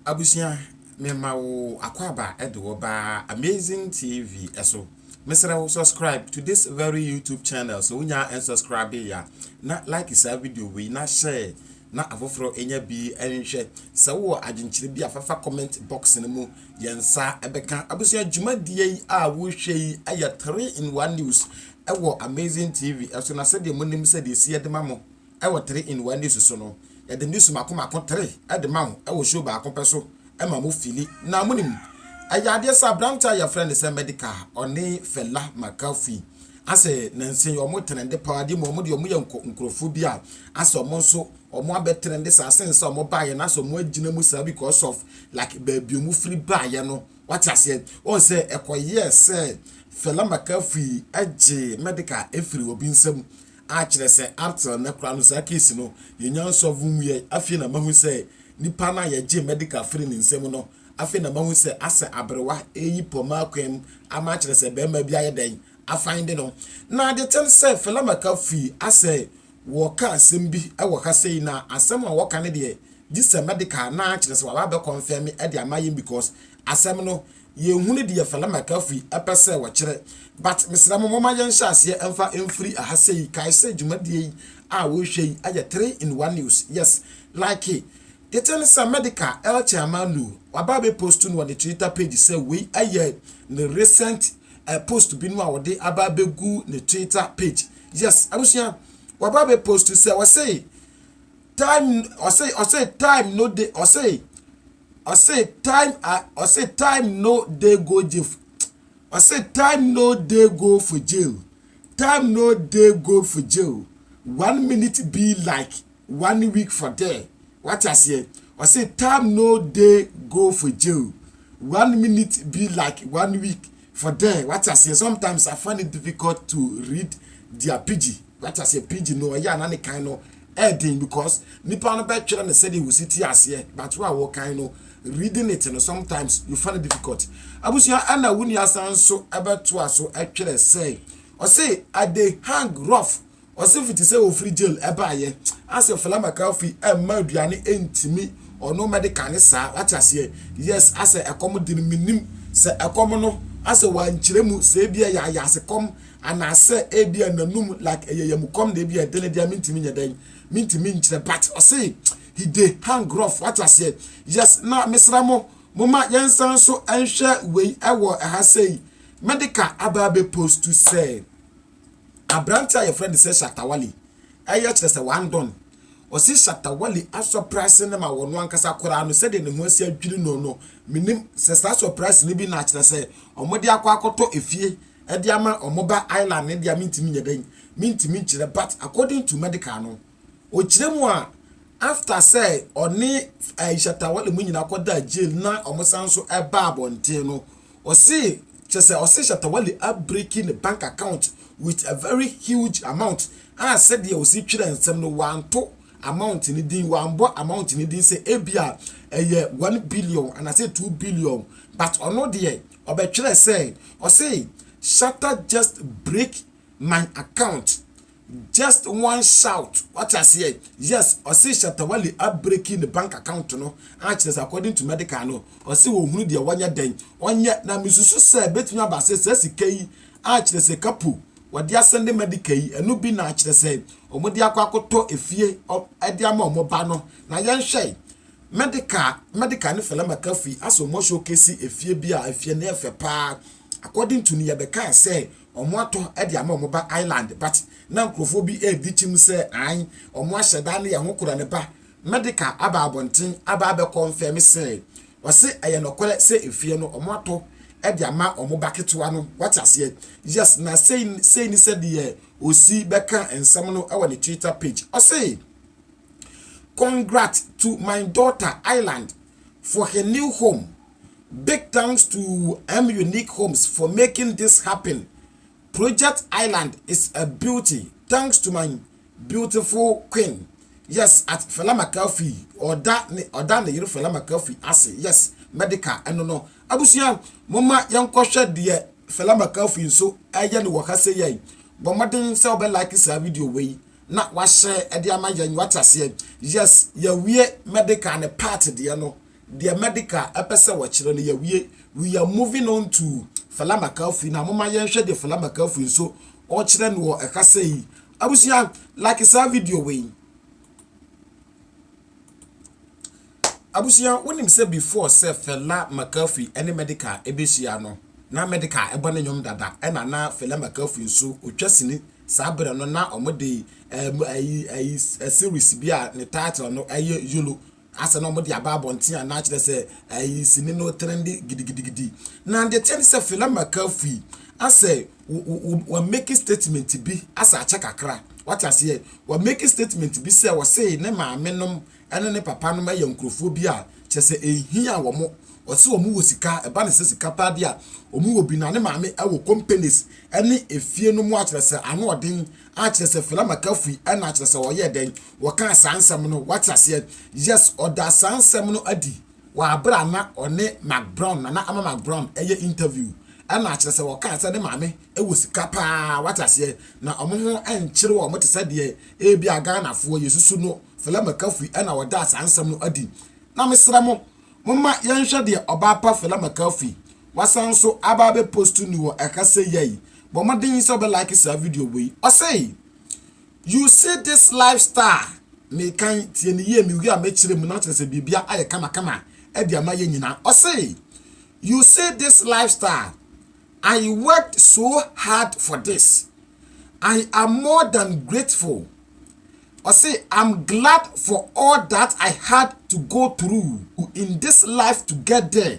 Abusua me ma wo akwaaba de wo ba Amazing TV so. Mesrɛ wo subscribe to this very YouTube channel so wonya unsubscribe ya na like saa video wei na share na afoforɔ enya bi nhwɛ. Sɛ wowɔ adwenkyerɛ bi a fafa comment box no mu Yɛn nsa bɛka abusua dwumadie yi a wohwɛ yi yɛ three in one news ɛwɔ amazing tv ɛso na sɛdeɛ mo nim sɛdeɛ esi ɛde ma mo ɛwɔ three in one news so no yɛde news mako mako three ɛde ma mo ɛwɔ show baako pɛ so ɛma mo fili na mo nim ɛyɛ adeɛ sɛ aberante a yɛfrɛ ne sɛ medical ɔne fela makafi asɛ nansi wɔn trendy paa di mu wɔn deɛ wɔn yɛ nkurɔfoɔ bi a asɛ wɔn nso ɔmo abɛ trɛnde saa since sɛ ɔmo baayɛ na sɛ ɔmo agyina mu saa because of like baabi ɔmo firi baayɛ no wate aseɛ ɔn sɛ ɛkɔyɛɛ sɛ Fela Makafi gye medical ɛfiri obi nsam a kyerɛ sɛ uptill nɛ koraa no saa case no yɛnya nsɔlve nwuiɛ afei na mahu sɛ nipa no a yɛgye medical firi ne nsam no afei na mahu sɛ asɛ aberewa ɛyi pɔma akwan mu ama akyerɛ sɛ bɛrima bi ayɛ dɛn afande no na de kyɛn sɛ Fela Makafi asɛ Wɔka asɛm bi wɔ ha sei na asɛm a wɔka no deɛ gye sɛ medical anaa kyerɛ sɛ waba abɛ kɔnfɛme de ama yɛn because asɛm no yɛn hunu deɛ fɛlɛ mcafri pɛ sɛ wɔkyerɛ but mesrɛ mo moma yɛn hyɛ aseɛ mfa mfiri aha sei kae sɛ dwumadie yi a wohwɛ yi yɛ three in one news yes like tete no sɛ medical el chairmanu waba abɛ post no wɔ ne twitter page sɛ wei yɛ ne recent uh, post bi no a wɔde aba abɛgu ne twitter page yes abusua waba bɛ post sɛ ɔsɛ time ɔsɛ ɔsɛ time no de ɔsɛ ɔsɛ time a ɔsɛ time no de go jail ɔsɛ time no de go for jail time no de go for jail one minute be like. one week for there wate aseɛ ɔse time no dey go for jail one minute be like one week for there wate aseɛ sometimes I find it difficult to read their pidgin wate aseɛ pidgin no ɛyɛ ana ne kan no ɛɛden because nipa no bɛtwerɛ ne sɛdeɛ wɔsi te aseɛ but wo a wɔkan no reading it no sometimes you find it difficult abusua ɛna wo nua san so ɛbɛtoa so ɛtwerɛ sɛ ɔse I dey hang rough Ɔsefo te sɛ ofiri jail baayɛ asɛ fela mccarthy ɛmma aduane ɛntimi ɔno medical ne saa wate aseɛ yes asɛ ɛkɔm de no menim sɛ ɛkɔm no asɛ wankyerɛ mu sɛ ebia ɛyɛ ayaase kɔm anaasɛ ebia nanum like ɛyɛ yamukɔm na ebia ɛdene deɛ mentimi nyɛ dɛn mentimi nkyerɛ but ɔse he de hang rough wate aseɛ yes na mesra mo moma yɛnsan so ɛnhwɛ wei ɛwɔ ɛha sɛi medical aba abɛ post sɛ Aberante a wɔfrɛ no sɛ Shatta Wali yɛ kyerɛ sɛ wɔandɔn. Ɔse Shatta Wali asɔ price no ma wɔ no ankasa koraa no sɛdeɛ ne ho asi adwiri no no mennim sɛ saa sɔ price no bi na kyerɛ sɛ wɔde akɔ akɔtɔ efie de ama wɔn ba Island no deɛ mentumi nyɛ dɛn mentumi nkyerɛ but according to medical no Ɔkyerɛ mu a after sɛ ɔne ɛɛ Shatta Wale mu nyinaa kɔdaa jail na wɔn san nso ɛbaa abɔnten no, ɔse kyerɛ sɛ ɔse Shatta Wale abreaki ne bank account with a very huge amount a sɛdeɛ ɔsi twerɛ nsɛm no wanto amount no din, wanbɔ amount no din sɛ ebia ɛyɛ one billion anaasɛ two billion but ɔno deɛ ɔbɛtwerɛ sɛ ɔse Shatta just break my account. Just one shout wate aseɛ yes ɔse Shatta Wale a breaki ne bank account no a kyerɛ sɛ according to medical no ɔse ɔhunu deɛ wɔnyɛ dɛn ɔnyɛ na mesusu sɛ bɛtumi aba sɛ saa sika yi a kyerɛ sɛ kapu wɔde asɛnde medical yi ɛno bi na kyerɛ sɛ wɔn de akɔ akɔtɔ efie ɛde ama wɔn ba no na yɛnhwɛ medical medical ne Fela McAfee asɛ wɔn showcase efie bi a efie no yɛ fɛ paa according to ne yɛbɛkaa sɛ Wɔatɔ de ama wɔn ba Ireland but na nkurɔfoɔ bi redi kyim sɛ ae wɔahyɛ da ne yɛn ho kora ne ba medical aba abɔnten aba abɛ confirm sɛ ɔse ɛyɛ nɔkorɛ sɛ efie no wɔatɔ de ama wɔn ba ketewa no wate aseɛ yes na sei sei ne sɛdeɛ ɔsi bɛka nsɛm no wɔ ne twitter page ɔse congrat to my daughter Ireland for her new home Big thanks to M Unique Homes for making this happen, project island is a beauty thanks to my beautiful queen yes at Fela McAfee ɔda ne ɔda ne yere Fela McAfee ase yes medical ɛno no abusua moma yɛnkɔhwɛ deɛ Fela McAfee nso ɛyɛ ne wɔ ha sɛ yɛn bɔ mmɔden sɛ wobɛ like saa video wei na wahyɛ ɛde ama yɛn wate aseɛ yes yɛwie medical ne part deɛ no Deɛ Mɛdeka pɛ sɛ wɔkyerɛ no yɛawie we are moving on to Fela Makafui na moma yɛnhwɛ deɛ Fela Makafui nso ɔkyerɛ no wɔ ɛkasa yi abusua like saa video wei abusua wonim sɛ before sɛ Fela Makafui ɛne Mɛdeka ɛbɛhyia no na Mɛdeka ɛbɔ ne nnwom dada ɛna na Fela Makafui nso ɔtwa sini saa berɛ no na ɔmode ɛyi ɛyi series bi a ne title no ɛyɛ yolo Asɛ na wɔde aba abɔnten a na akyerɛ sɛ ɛyi sini no trɛnde gidigidigidi. Na deɛ ɛteɛ ne sɛ Fela McCarthy asɛ wa make statement bi asɛ akyɛ kakra. Wate aseɛ? Wa make statement bi sɛ ɔse ne maame nom ɛne ne papa nom ɛyɛ nkurɔfoɔ bi a kyerɛ sɛ ɛhia wɔn. Ɔse wɔn wɔ sika, ɛba ne sɛ sika paa bi a wɔn wɔ bi na ne maame ɛwɔ companies ɛne efie nom a kyerɛ sɛ ano ɔden Ah, kyerɛ sɛ Fela McAfee ɛna kyerɛ sɛ ɔyɛɛ dɛn? Wɔkaa saa nsɛm no, wate aseɛ? Yes, ɔdaa saa nsɛm no adi wɔ abere a na ɔne Mac Brown, Nana Ama Mac Brown, ɛyɛ interview. Ɛna kyerɛ sɛ wɔkaa sɛ ne maame ɛwɔ sika paa, wate aseɛ? Na wɔn ho ɛnkyere wɔn te sɛ deɛ ebia Ghanafoɔ yɛsusu no, Fela McAfee ɛna ɔdaa saa nsɛm no adi. Na mesrɛ mo, momma yɛnhwɛ deɛ ɔbaa pa Fela McAfee, wasan nso aba abɛ post ni wɔ ɛha seyɛ yi, Bɔ mmɔden sɛ wobɛlike saa video wei. Ɔse, You see this lifestyle mekan, tie no yie, mewie a mɛkyerɛ mu na kyerɛ sɛ biribia ayɛ kamakama de ama yɛ nyina. Ɔse, You see this lifestyle, I worked so hard for this. I am more than grateful. Ɔse, I'm glad for all that I had to go through in this life to get there.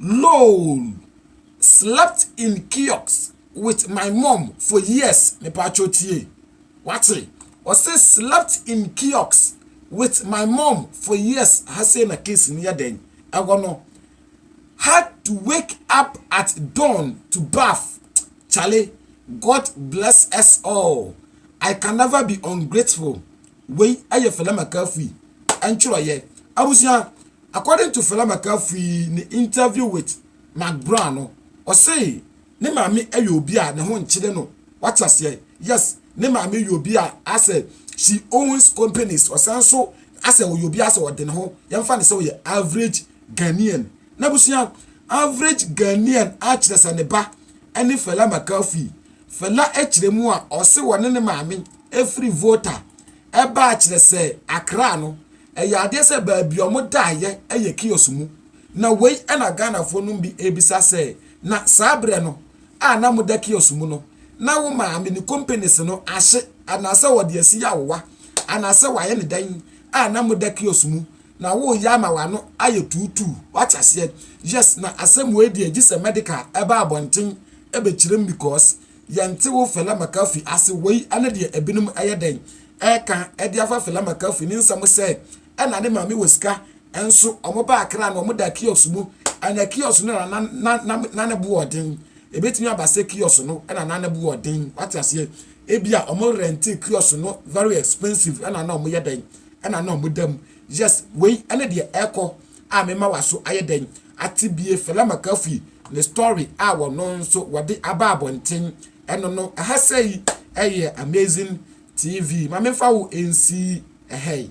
Lol slept in kiosk with my mom for years mepatwo tie wate ɔse slept in kiosk with my mom for years ha sei na case no yɛ dɛn ɛhɔ no had to wake up at dawn to bath chale God bless us all I can never be ungrateful Wei yɛ Fela McCaffery ntwerɛeɛ. Abusua, according to Fela McCaffery ne interview with Mark Brown no, ɔse ne maame yɛ obi a ne ho nkyere no, wate aseɛ, yes, ne maame yɛ obi a asɛ she owns companies, ɔsan so asɛ ɔyɛ obi asɛ ɔde ne ho, yɛmfa ne sɛ ɔyɛ average Ghanaian. Na abusua, average Ghanaian akyerɛ sɛ ne ba ne Fela McCaffery. Fela kyerɛ mu a, ɔse ɔne ne maame. Ɛfiri Volta baa kyerɛ sɛ Accra no, ɛyɛ adeɛ sɛ baabi a wɔdaeɛ yɛ kiosk mu. Na wei na Ghanafoɔ nom bi rebisa sɛ, na saa berɛ no a na moda kiosk mu no, na wo maame ne kompanies no ahye anaasɛ wɔde asi awowa anaasɛ wɔayɛ no dɛn a na moda kiosk mu na woreyɛ ama w'ano ayɛ tuutuu? Woate aseɛ? Yes, na asɛm wei deɛ gye sɛ medical ba abɔnten bɛkyerɛ mu because Yɛnte wo Fela McCarthy ase wei ne deɛ ebinom yɛ dɛn ɛka de afa Fela McCarthy ne nsɛm sɛ ɛna ne maame wɔ sika nso wɔn ba akra no wɔn da kiosk mu ɛna kiosk no na na na na ne boɔ ɔden ebetumi aba sɛ kiosk no ɛna na ne boɔ ɔden wate aseɛ ebi a wɔn rente kiosk no very expensive ɛna na wɔn yɛ dɛn ɛna na wɔn da mu Yes, wei ne deɛ ɛkɔ a mema waso ayɛ dɛn ate bie Fela Makafi ne story a wɔno nso wɔde aba abɔnten ɛno no ɛha sɛi ɛyɛ amazing TV ma menfa wo nsi ɛhɛi.